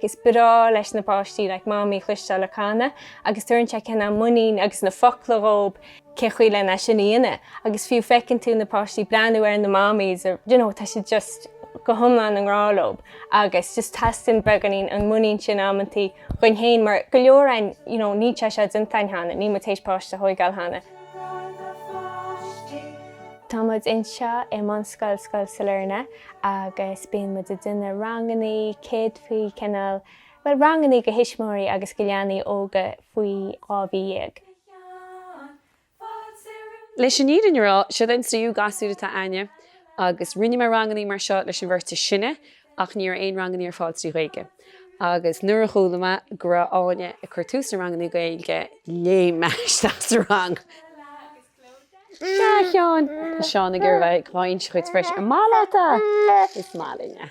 Is breá leis na páistí like Mamaí a chloisteáil ag canadh agus tugann sé cineál muinín agus na focla dhób cén chaoi le é sin a dhéanamh agus fiú feiceann tú na páistí breathnú ar na Mamaís or you know tá siad just go hiomlán i ngrá leob agus just teastaíonn beagáinín an mhuinín sin amantaí dhuinn fhéin mar go leor againn you know níl sé seo déanta againn cheana, níl muid théis páiste a thóigeáil cheana. Tá muid anseo i mBunscoil Scoil Sailearna. agus bíonn muid ag déanamh rangannaí, ceol faoi chineál, bhuel, rangannaí go thuismitheoirí agus go leanaí óga faoi dhá mhí dhéag. Leis an fhírinne a rá, seod é an tríú gasúr atá againne agus rinne mé rangannaí mar seo leis an bheirt is sine ach ní raibh aon rangannaí ar fáil trí Ghaeilge agus nuair a chuala mé go raibh Áine ag cur tús le rangannaí Gaeilge, léim mé isteach sa rang! Sea, a Sheáin, tá Seán ag iarraidh a bheith ag baint a chuid spraoi as an mála, is maith linne.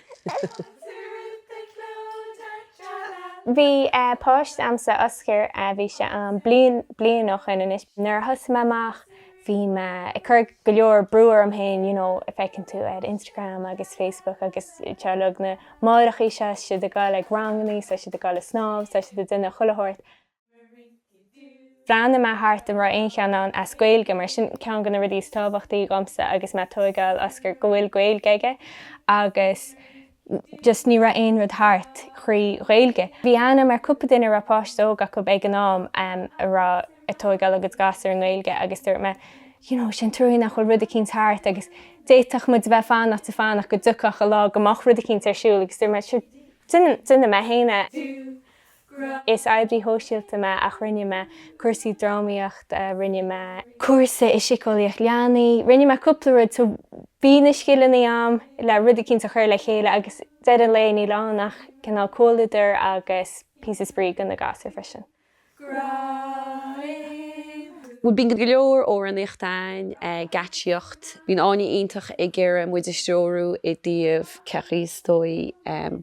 Bhí páiste a'msa, Oscar, bhí sé aon bhliain, bliain ó shoin anois. Nuair a thosaigh mé amach, bhí mé ag cur go leor brú orm féin, you know, feiceann tú ar Instagram agus Facebook agus TikTok, na máithreachaí seo, is iad ag goil chuig rangannaí, is iad ag goil ag snámh, is iad ag déanamh chuile shórt. Bhreathnaigh mé thart an raibh aon cheann ann as Gaeilge mar sin ceann de na rudaí is tábhachtaí dhomsa agus mé ag tóigeáil Oscar go bhfuil Gaeilge aige agus just ní raibh aon rud thart thrí Ghaeilge. Bhí aithne a'm ar cúpla duine a raibh páiste óg acub ag an am a raibh ag tóigeáil a gcuid gasúr i nGaeilge agus dúirt mé you know is an truaí nach bhfuil rud eicínt thart agus d'fhéadfadh muid a bheith ag fanacht is ag fanacht go dtiocfadh an lá go mbeadh rud eicínt ar siúl agus dúirt mé sure déanfaidh mé fhéin é. Is oibrí shóisialta mé ach rinne mé cúrsaí drámaíochta, rinne mé. cúrsa i síceolaíocht leanaí, rinne mé cúpla rud so bhí na scileanna a'm le rud eicínt a chur le chéile agus deireadh an lae níl ann ach cineál comhluadar agus píosa spraoi go na gasúir freisin. Bíonn go leor amhránaíocht ann, geáitsíocht. Bíonn Áine iontach ag iarraidh muid a threorú i dtaobh cén chaoi is dóigh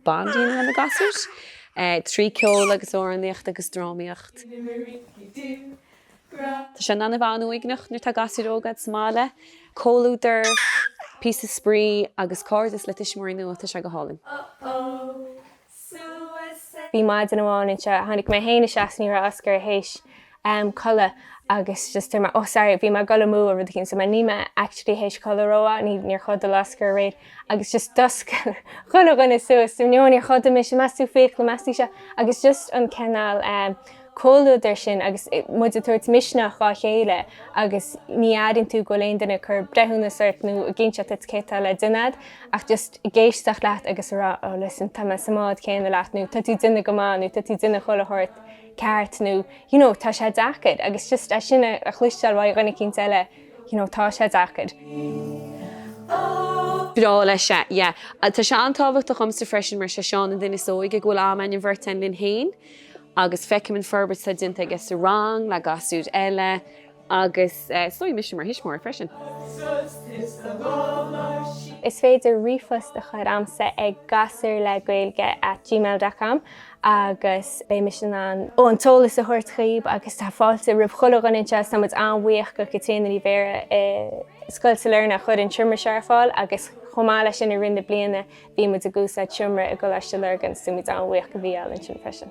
bond a dhéanamh lenár ngasúir. trí ceol agus amhránaíocht agus drámaíocht. Tá sé in ann a bheith an-uaigneach nuair atá gasúir óga a'd sa mbaile. Comhluadar, píosa spraoi agus cairdeas le tuismitheoirí nua, tá sé go hálainn. Bhí maidin amháin anseo, tháinig mé fhéin isteach is ní raibh Oscar théis am codladh agus just bhí mé, oh sorry, bhí mé ag dul amú or rud eicínt so mé, ní mé actually théis codladh romhaith, ní, níor chodail Oscar aréir agus just dhúisigh chuile dhuine suas so níor, níor chodail mise, meas tú fiacla, meas tú seo agus just an cineál ehm comhluadair sin agus muid ag tabhairt misneach dhá chéile agus ní airíonn tú go bhfuil aon duine ag cur breithiúnas ort nó ag inse duit cé atá le déanamh ach just ag éisteacht leat agus a rá oh listen tá mé sa mbád céanna leat nó tá tú ag déanamh go maith nó tá tú ag déanamh chuile shórt. ceart nó you know tá sé deacair agus just é sin a chloisteáil uaidh dhuine eicínt eile you know tá sé deacair. Is breá leis é, yeah. Tá sé an-tábhachtach dhomsa freisin mar sé Seán an duine is óige go bhfuil am a'inn an bheirt a'inn linn féin agus feicim an forbairt atá déanta aige sa rang le gasúir eile, Agus domsa mar thuismitheoir freisin. Is féidir ríomhphost a chur a'msa ag gasúirlegaeilge at gmail dot com agus beidh mise in ann an t-eolas a thabhairt dhaoib agus tá fáilte roimh chuile dhuine anseo is tá muid an-bhuíoch do Chaitríona Ní Bhéarra i Scoil Sailearna a chuir an seomra seo ar fáil agus chomh maith leis sin i rith na bliana bhí muid ag úsáid seomra i gColáiste Lurgan so tá muid an-bhuíoch do Mhícheál ansin freisin.